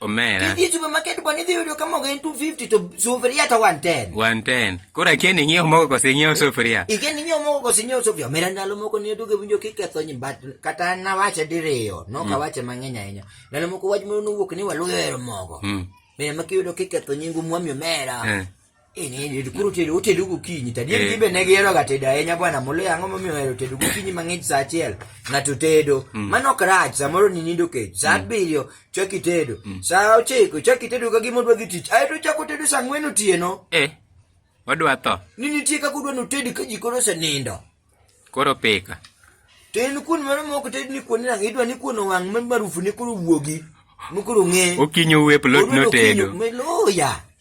Omera. Kidhi e supermarket bwana idhi yudo kama ogen 250 to sufuria to 110. 110. Koro akia ni ng'iewo mogo kose ng'iewo sufuria. Ikia ni ng'iewo mogo kose ng'iewo sufuria. Omera ndalo moko ne aduogo winjo kiketho nyi but kata nawache diriyo. No mm. kawache mang'eny ahinya. Ndalo moko wach moro nowuok ni waluyo hero mogo. Mm. Mera makiyudo kiketho nyingu mwami omera. Eh. Eh, koro tedo otedo gokinyi tadi eh. be ne giheroga tedo ahinya bwana moloyo ang'o momiyo ohero tedo gokinyi mang'ich sa achiel ng'ato tedo mm. mano ok rach samoro ni nindo kech sa mm. abiriyo chak itedo mm. sa ochiko chak itedo ka gima odwa dhi tich ae to chak otedo sa ang'wen otieno eh, odwa tho ni nitie kaka odwa notedi ka ji koro osenindo koro pika to en kuon mano ma ok ted ni kuon nang' idwa ni kuon owang' ma marufu ne koro wuogi mokoro ng'e okinyi owep lot notedo loya